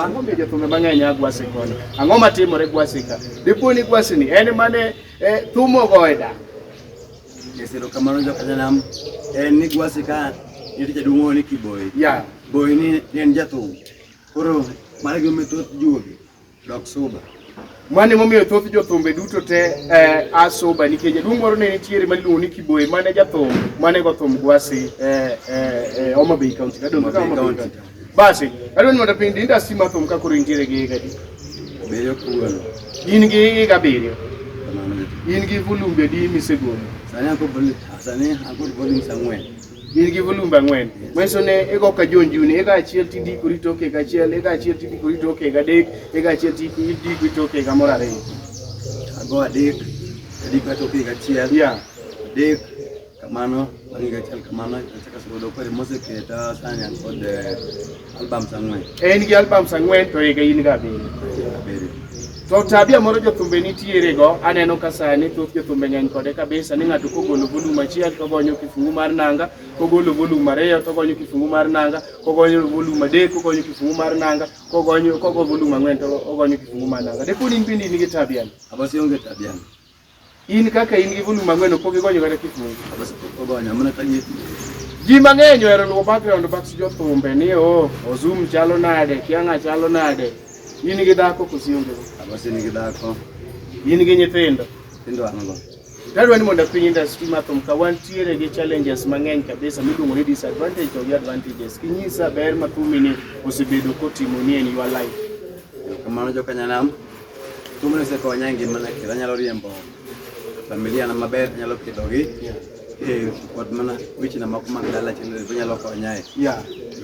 Ang'o mi jothumbe mang'eny a Gwasi koni? Ang'o matimore Gwasi ka? Dipo ni Gwasi ni en mane eh, thumo go e dak. Jesero kamano joka janam en ni Gwasi ka nitie jaduong' ni Kiboyi. Yeah. Boyi ni en jathum. Koro mano gima thoth juogi dok suba. Mano emomiyo thoth jothumbe duto te eh, a soba nikech jaduong' moro ne nitiere ma iluongo ni Kiboye mane jathum mane go thum Gwasi eh, eh, eh, Homa Bay County. Nadong' Homa Bay Homa Bay County. County. Basi, adwa ni mondo piny di industry ma thum ka koro intiere gi higa adi? Beyo kuon. In gi higa abiriyo, Kamano. in gi volumbe adi misegolo? Sani akod volume, sani akod volumes ang'wen. in gi volumbe ang'wen manyiso ne igo ka jonjuni eka achiel tidikori tok higa achiel eka achiel tidikori tok higa adek eka achiel tidikori tok higa moro ariyo ago adek adikora tok higa achiel yeah. adek kamano bang' higa achiel kamano achaka sudo kore moseketa sanya kod eh, Albums ang'wen. En gi albums ang'wen to higa in ga abiriyo. To tabia moro jothumbe nitiere go, aneno ka sani thoth jothumbe ng'eny kode kabisa ni ng'ato kogolo volume achiel to gonyo kifungu mar nanga, kogolo volume ariyo to gonyo kifungu mar nanga, kogonyo volume adek to gonyo kifungu mar nanga, kogonyo kogo volume ang'wen to ogonyo kifungu mar nanga. Dekoni in bende in gi tabia ni? Abasi onge tabia ni. In kaka in gi volume ang'wen ok igonyo kata kifungu. Ogonyo mana ka nyeti. Ji mang'eny ohero luwo background bax jothumbe ni o Ozum chalo nade, Kianga chalo nade. In gi dhako kosi onge? Abasi ni gi dhako. In gi nyithindo? Nyithindo an go. Dadwa ni mondo piny industry ma thum ka wantiere gi challenges mang'eny kabisa miluongo ni disadvantage to gi advantages. Kinyisa ber ma thumini osebedo kotimoni en your life. Kamano jokanyanam. Tume osekonya e ngimana kendo anyalo riembo familia na maber, anyalo pidhogi eh, kod mana wechena moko mag dala chendo anyalo konya e.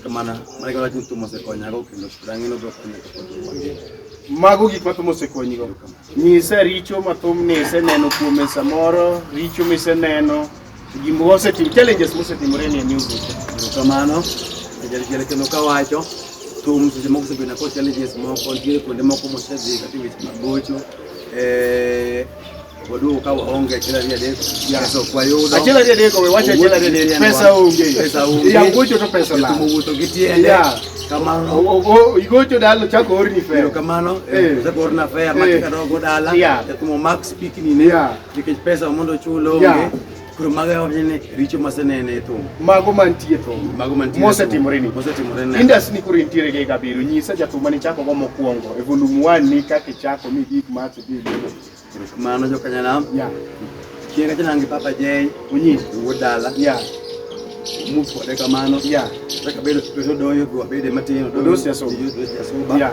Kamano, mano gima wacho ni tume osekonyago kendo pod ang'ino biro konya kapod wangima. Mago gik ma thum osekonyigo. Nyisa richo ma thum ni iseneno kuome samoro, richo miseneno, Jimbo wasetim challenges mosetimore ni new vision. Kamano jalichele kendo kawacho thum seche moko osebedo na kod challenges moko nitie kuonde moko mosedhi kata weche mag gocho eh waduogo ka waonge achiel ariyo adek pesa ok wayudo achiel ariyo adek owe wacha achiel ariyo adek pesa onge pesa onge ya gocho to pesa la tumo wuotho gi tiende ya kamano o igocho dalo chako orni fare kamano eh chako orna fare matika dogo dala ya tumo max pikini ne ya Nikech pesa mondo ochul onge. Yeah. Koro mago e wachne ni richo masenene e thum. Mago mantie thum. Mago mantie. Mosetimore ni. Mosetimore ni. Indas ni koro intiere gi gabiro. Nyisa jathum mane chako go mokwongo. E volume 1 ni kaka ichako mi gik ma to bi. Mano jo kanyana. Yeah. Kienga tena ngi papa Jay. Unyi. Wuod dala. Yeah. Move for the kamano. Yeah. Saka bedo bedo doyo go bedo matino. Dosi aso. Dosi aso. Yeah.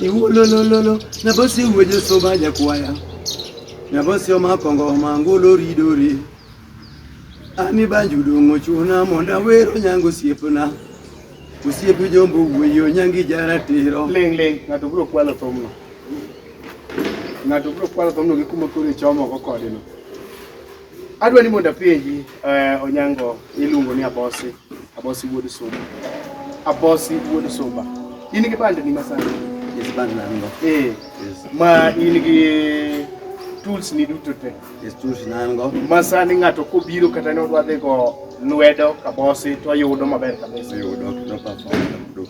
Iwololololo, nabosi weje soba jakwaya. Nabosi omakongo mangolo ridore. Ani banju dongo chuna monda wero nyango siepna. Osiep jombo wuoyo nyangi jaratiro. Ling ling, ng'ato biro kwalo thumno. Ng'ato biro kwalo thumno gi kuma koro ichomo go kodeno. Adwa ni mondo apenji eh, Onyango iluongo ni Abosi, Abosi wuod Sumba. Abosi wuod Sumba. In gi band ni masani? Yes, band na ngo. Eh. Yes. Ma in gi tools ni duto te. Yes, tools na ngo. Masani ng'ato kobiro kata ne odwa dhi go lwedo kabosi to yudo maber kabisa. Yudo, no perform.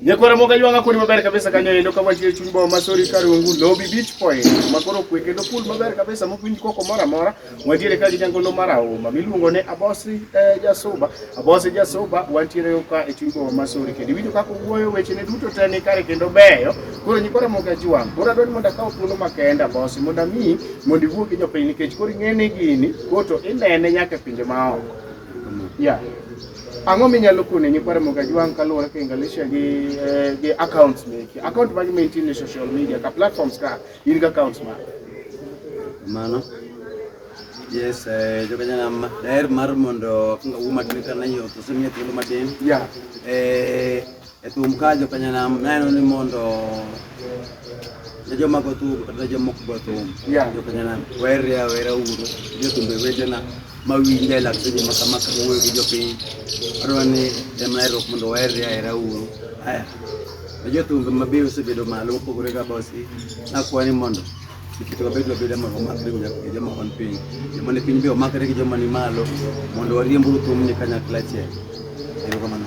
Nyakwara moga ywanga kodi maber kabisa kanyo endo ka wantie chuny boma masori karungu lobi beach point makoro kwe kendo pool maber kabisa mokwinj koko mora mora wantiere ka gi jangolo mar auma miluongo ne abosi eh, jasuba abosi jasuba wantiere ka e chuny boma masori kendo iwinjo kaka owuoyo weche ne duto te ni kare kendo beyo koro nyikwara moga jwang koro adwani mondo akaw thuolo makenda abosi mondo ami mondo iwuo gi jopiny nikech koro ing'e ni gini koto inene nyaka e pinje maoko yeah. Ang'o minyalo kone nyikwa Ramogi Ajwang' kaluwore ka Engalesha gi eh, gi accounts meki? Account magi ma intie e social media ka platforms ka in gi accounts ma. Mano. Yes, eh, joka jana ma- daher mar mondo kanga wuo matin kana yo to semiya thuolo matin. Yeah. Eh, E thum ka jopenya nam neno ni mondo ne joma go thum kata ne jomok go thum Yeah. jopenya nam werre awera uru jothumbe wetena ma winja e lak seche ma kama ka wuoyo gi jopiny adwa ni jamnaerruok mondo werre ahera uru aya ne jothumbe ma be osebedo malo mopogore ga bosi nakwa ni mondo kikito wabed wabeda mondo wamakre gi jo- gi joma on piny joma ni piny be omakre gi joma ni malo mondo wariemburu thumni kanyakla achiel erokamano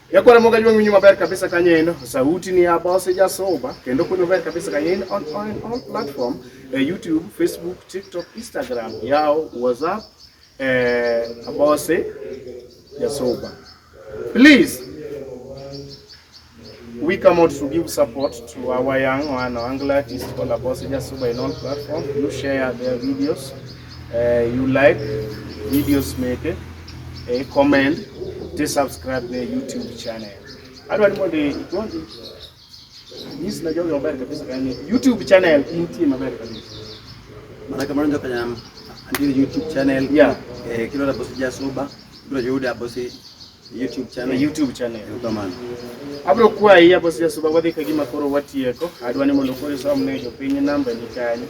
Yakwara moga jwang winyo maber kabisa kanyo en sauti ni abose jasoba kendo kunyo maber kabisa kanyo en on, on, on platform eh, YouTube, Facebook, TikTok, Instagram, yao, WhatsApp eh, abose jasoba. Please we come out to give support to our young one, Angla artist called Abose Jasuba in all platforms. You share their videos. eh, you like videos meke eh, comment to subscribe the YouTube channel adwa ni mondo igonji nyis na jogi maber kabisa kani YouTube channel intie maber kabisa maana kama ndio kanya andiri YouTube channel yeah eh, kilo la bosi jasuba ndio juhudi ya bosi YouTube channel. YouTube channel. Kamano. Abro kwayi apo sia suba wadhi ka gima koro watieko. Adwa ni mondo koro isom ne jopiny namba ni kanyo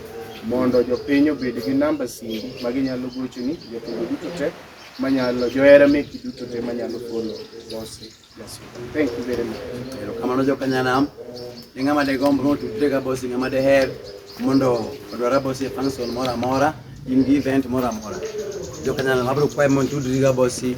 mondo jopiny obed gi namba simbi ma ginyalo gochoni jotugo duto te manyalo johera meki duto te manyalo golo bosi thank you very much erokamano jokanyanam ni ng'ama degomb notudre ka bosi ng'ama deher mondo odwara bosi e function moro amora in gi event moro amora jokanyanam abro kwaye mondo tudri ka bosi